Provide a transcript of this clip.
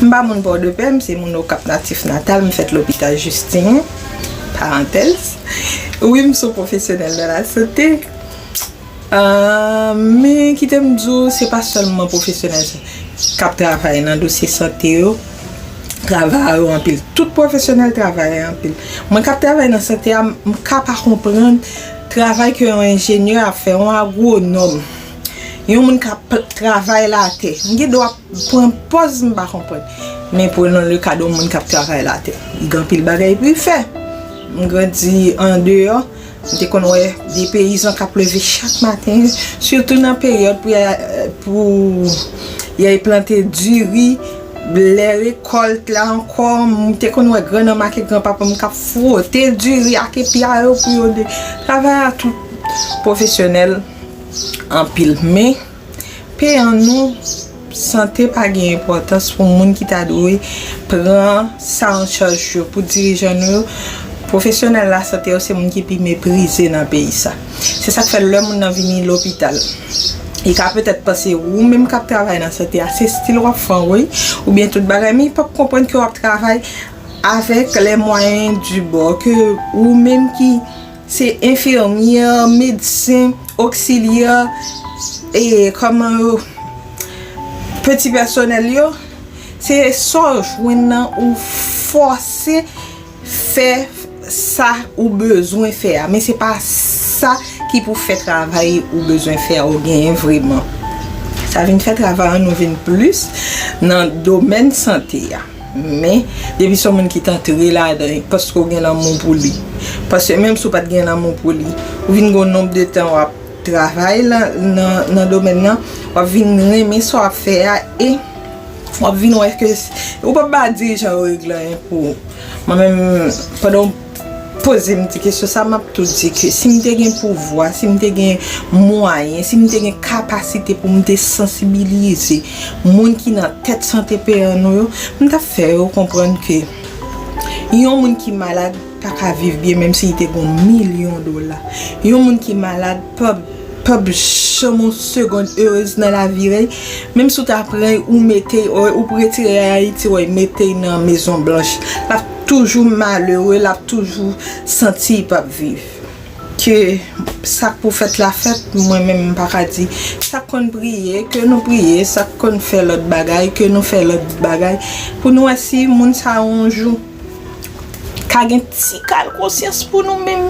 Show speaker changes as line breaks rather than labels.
M pa moun Pòdepè, m se moun Okap natif natal, m fèt lopital Jistin, parantèz, wi m son pwofesyonèl nan lasote, men kite m di w se pa sèlman pwofesyonèl k ap travay nan dosye sante yo, travayè yo anpil, tout pwofesyonèl travayè yo anpil, mwen k ap travay nan sante a m ka pa konprann travay ke yon enjenyè ap fè, yon agwonòm. Yon moun ka travay latè. M gen dwa pran pòz m pa konprann. Men prenn le ka de yon moun k ap travay latè. Li gen anpil bagay pou li fè. M grandi andeyò. M te konn wè de peyizan k ap leve chak maten. Sitou nan peryòd pou y al plante diri. Lè rekòlt la ankò. M te konn wè grannanm ak granpapa m k ap fwote diri ak epla yo pou yo travay a tout pwofesyonèl. Anpil men, pe an nou, sante pa gen enpòtans pou moun ki ta dwe pran sa an chaj yo, pou dirijan nou yo. Pwofesyonèl lasante yo se moun ki pi meprize nan peyi sa. Se sa k fè lè moun nan vini lopital, li ka petèt panse ou menm k ap travay nan sante a se stil w ap fè anwey oubyen tout bagay men li p ap konprann ke w ap travay avèk lè mwayen di bò, ke ou menm ki Se enfimyè, medsen, oksilyè, e kòman yo, peti pèsonèl yo, se sa w jwenn nan ou fòse fè sa ou bezwen fè a. Men se pa sa ki pou fè travay ou bezwen fè a ou genyen vreman. Sa vin fè travay an nou vin plis nan domèn sante a. Men, depi se yon moun ki t antre ladan l, paske ou gen lanmou pou li. Paske menm si ou pa t gen lanmou pou li, ou vin gen yon nonb de tan w ap travay nan domèn nan, w ap vin renmen sa w ap fè a e w ap vin wè ke ou p ap ba dirijan yo reglayen pou ou. Mwen menm, pandan yon. pozem ti kesyon sa map tou di ke sim te gen pouvwa sim te gen mwayen sim te gen kapasite poum te sansibilize moun ki nan tèt sante peyan nou yo m tap fè yo konprann ke yon moun ki malad paka viv byen menm si li te gon milyon dola yon moun ki malad pap janm yon segond erez nan lavi rèy menm si w ta pran ou mete ou retire ayiti ou mete nan mezon blanch lap toujou malere lap toujou santi lipap viv ke sak pou fèt la fèt mwen menm mpaka di sak konn priye ke nou priye sak konn fè lòt bagay ke nou fè lòt bagay pou nou wè si moun sa yo yon jou ka gen tikal konsyans pou nou menm.